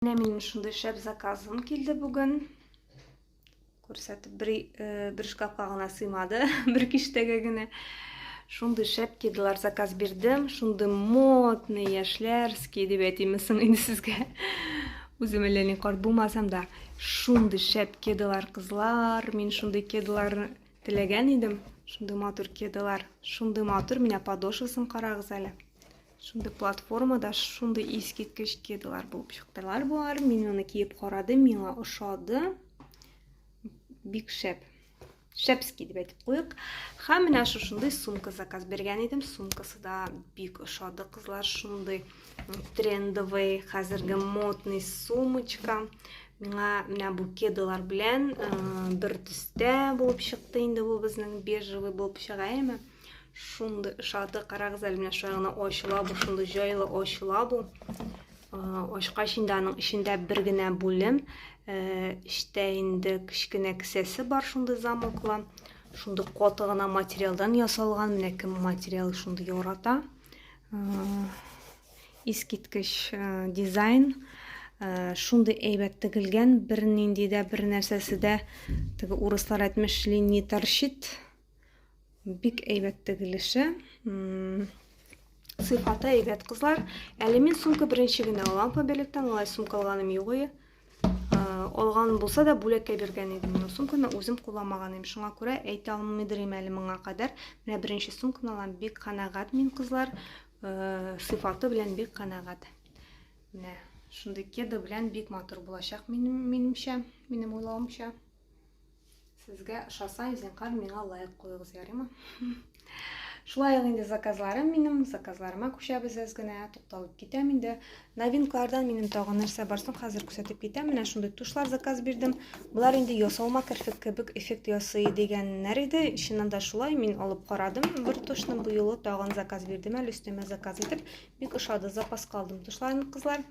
Менә минем шундый шәп заказым килде бүген. Күрсәтеп бер, э, бер шкафка гына сыймады, бер киштәгә генә. Шундый шәп кедылар заказ бирдем. Шундый модный яшьләрский дип әйтимме соң инде сезгә. Үзем әллә ни карт булмасам да, шундый шәп кедылар кызлар. Мин шундый кедыларны теләгән идем. Шундый матур кедылар, шундый матур. Менә подошвасын карагыз әле. Шундый платформада шундый искиткеч кедалар булып чыктылар болар. Мин моны киеп карадым, миңа ошады. Бик шәп. Шәпски дип әйтеп куйык. Һәм менә шушындый сумка заказ биргән идем. Сумкасы да бик ошады, кызлар. Шундый трендовый, хәзерге модный сумочка. Миңа менә бу кедалар белән бер төстә булып чыкты инде бу безнең бежевый булып чыга, әйме? Шундый ошады, карагыз әле менә шулай гына ачыла бу, шундый җайлы ачыла бу. Ачкач инде аның эчендә бер генә бүлем, эчтә инде кечкенә кесәсе бар шундый замоклы. Шундый каты гына материалдан ясалган, менә кем материал шундый ярата. Искиткеч дизайн шундый әйбәт тегелгән, бер нинди дә бер нәрсәсе дә теге урыслар әйтмешли не торчит Бик әйбәт тегелеше. Сыйфаты әйбәт, кызлар. Әле мин сумка беренче генә алам Фаберликтан, алай сумка алганым юк иде. Алган булса да бүләккә биргән идем. Менә сумканы үзем куламаган идем. Шуңа күрә әйтә алмыйдырым әле моңа кадәр. Менә беренче сумканы алам. Бик канәгать мин, кызлар. Сыйфаты белән бик канәгать. Менә шундый кеда белән бик матур булачак минем минемчә, минем уйлавымча. Сезгә ошаса, зинхар миңа лайк куегыз, ярыймы? Шулай ул инде заказларым минем, заказларыма күчәбез әз генә, тукталып китәм инде. Новинкалардан минем тагы нәрсә бар соң, хәзер күрсәтеп китәм. Менә шундый тушлар заказ бирдем. Болар инде ясалма керфек кебек эффект ясый дигәннәр иде. Чыннан да шулай, мин алып карадым. Бер тушны бу юлы тагын заказ бирдем әле өстәмә заказ итеп. Бик ошады, запаска алдым тушларны, кызлар.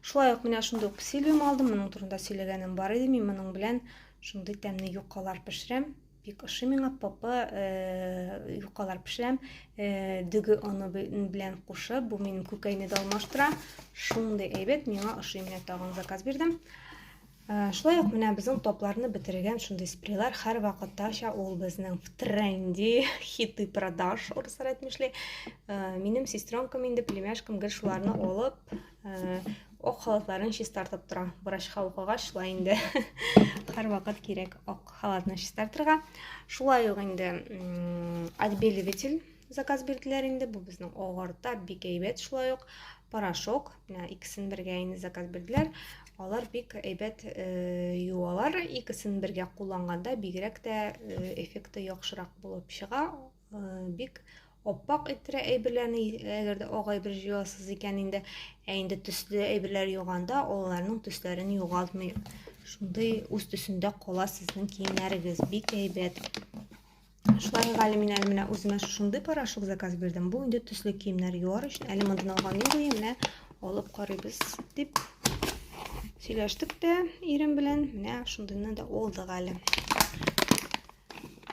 Шулай ук менә шундый ук сильвиум алдым. Моның турында сөйләгәнем бар иде. Мин моның белән шундый тәмле юкалар пешерәм. Бик ошый миңа папа э, юкалар пешерәм. Э, дөге оны белән кушып, бу минем күкәйне дә алмаштыра. Шундый әйбәт миңа ошый. Менә тагын заказ бирдем. Ә, шулай ук менә безнең топларны бетергән шундый спрейлар һәрвакыттача ул безнең в тренде, хиты продаж, урыслар әйтмешли. Ә, минем сестренкам инде, племяшкам гел шуларны алып, ә, ок халатларын чистартып тора. Врачка укыгач, шулай инде һәрвакыт кирәк ок халатны чистартырга. Шулай ук инде отбеливатель заказ бирделәр инде. Бу безнең агарта, бик әйбәт шулай ук. порошок менә икесен бергә инде заказ бирделәр алар бик әйбәт э, юалар икесен бергә кулланганда бигрәк тә э, эффекты яхшырак булып чыга э, бик оппак иттерә әйберләрне әгәр дә ак әйбер җуасыз икән инде ә инде төсле әйберләр юганда аларның төсләрен югалтмый шундый үз төсендә кала сезнең киемнәрегез бик әйбәт Шулай Гали мин әле менә үземә шушындый порошок заказ бирдем. Бу инде төсле киемнәр юар өчен. Әле мондан алган мин буе менә алып карыйбыз дип сөйләштек тә ирем белән. Менә шундыйны да алдык әле.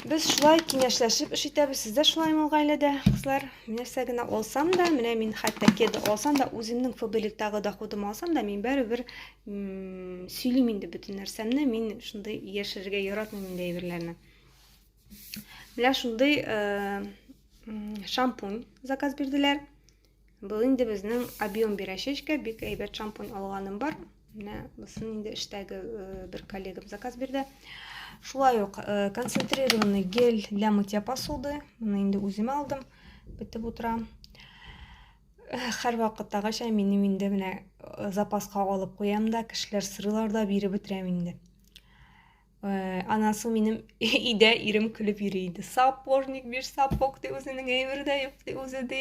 Без шулай киңәшләшеп эш итәбез. Сез дә шулаймы гаиләдә, кызлар? Нәрсә генә алсам да, менә мин хәтта кеды алсам да, үземнең фабелектагы доходым алсам да, мин бәрібер сөйлим инде бөтен нәрсәмне. Мин шундый яшерергә яратмыйм инде әйберләрне. Менә шундый э, шампунь заказ бирделәр. Бу инде безнең объем бирәчәчкә бик әйбәт шампунь алганым бар. Менә бусын инде эштәге э, бер коллегам заказ бирде. Шулай ук э, концентрированный гель для мытья посуды. Моны инде үзем алдым. Битеп утырам. Хәр вакыттагыча минем инде менә запаска алып куям да, кешеләр сырылар да биреп бетерәм инде. Э, анан соң минем өйдә ирем көлеп йөри иде сапожник бир сапог ди үзенең әйбере дә юк ди үзе ди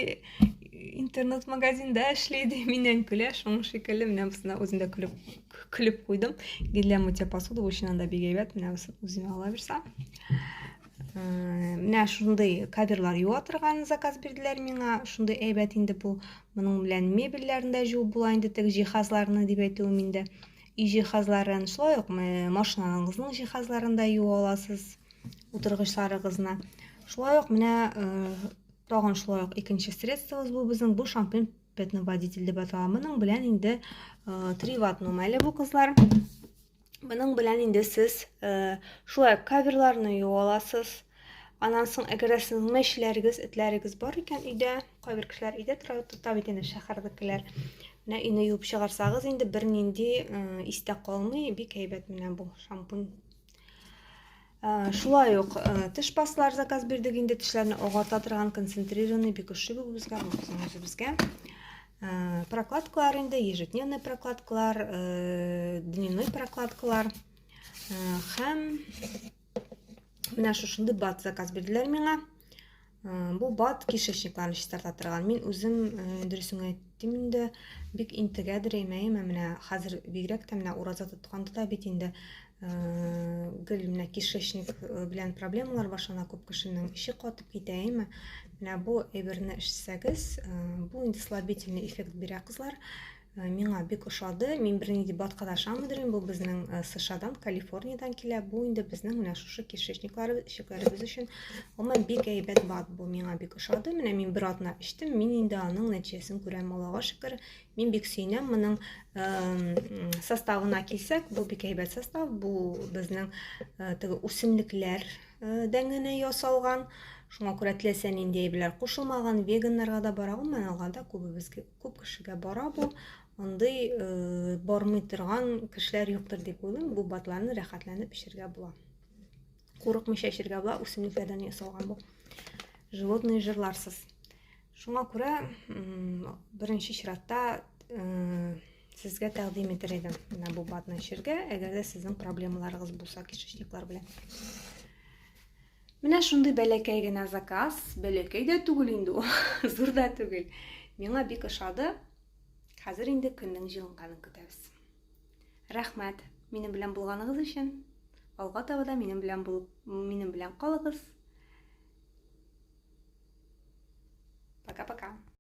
интернет магазинда эшли ди миннән көлә шуның шикелле менә бусына үзем дә көлеп көлеп куйдым гелия мытья посуды өчен анда бик әйбәт менә бусы үзеңә ала бирсә э, менә шундый каберлар юа торган заказ бирделәр миңа шундый әйбәт инде бу моның белән мебельләрне дә җуып була инде теге җиһазларны дип әйтүем инде өй җиһазларын, шулай ук машиналарыгызның җиһазларын да юу аласыз, утыргычларыгызны. Шулай ук менә тагын шулай ук икенче средствобыз бу безнең бу шампунь пятно водитель дип атала. Моның белән инде три ватт нумәле бу кызлар. Моның белән инде сез шулай каверларны юу аласыз. Аннан соң, әгәр дә сезнең мәчеләрегез, этләрегез бар икән өйдә, кайбер кешеләр өйдә тора, тота бит инде шәһәрдәкеләр. Менә өйне юып чыгарсагыз, инде бернинди истә калмый, бик әйбәт менә бу шампунь. Шулай ук теш пастлар заказ бирдек инде, тешләрне агата торган концентрированный бик ошый бу безгә, бу үзебезгә. Прокладкалар инде, ежедневный прокладкалар, дневной прокладкалар һәм Менә шушындый бат заказ бирделәр миңа. Бу бат кишечникларны чистарта торган. Мин үзем дөресен әйттем инде, бик интегә дерәймәем, менә хәзер бигрәк тә менә ураза тотканда да бит инде гел менә кишечник белән проблемалар башлана күп кешенең эче катып китә, әйме? Менә бу әйберне эчсәгез, бу инде слабительный эффект бирә кызлар. Э, миңа бик ошады мин берни дип баткада ашамыйдырмын бу безнең э, сшадан калифорниядан килә бу инде безнең менә шушы кишечникларыбыз ишекләребез өчен гомумән бик әйбәт бат бу миңа бик ошады менә мин бер атна эчтем мин инде аның нәтиҗәсен күрәм аллага шөкер мин бик сөенәм моның э, составына килсәк бу бик әйбәт состав бу безнең теге үсемлекләр дәңгенә ясалган шуңа күрә теләсә нинди әйберләр кушылмаган веганнарга да бара гомумән алганда күбебезгә Күп кешегә бара бу. Андый э, бармый торган кешеләр юктыр дип уйлыйм. Бу батларны рәхәтләнеп эчәргә була. Курыкмыйча эчәргә була, үсемлекләрдән ясалган бу. Животные жырларсыз. Шуңа күрә беренче чиратта э, сезгә тәкъдим итәр идем менә бу батны эчәргә, әгәр дә сезнең проблемаларыгыз булса кишечниклар белән. Менә шундый бәләкәй генә заказ, бәләкәй дә түгел инде ул, зур да түгел. Миңа бик ошады. Хәзер инде көннең җылынганын көтәбез. Рәхмәт минем белән булганыгыз өчен. Алга таба да минем белән булып, минем белән калыгыз. Пока-пока.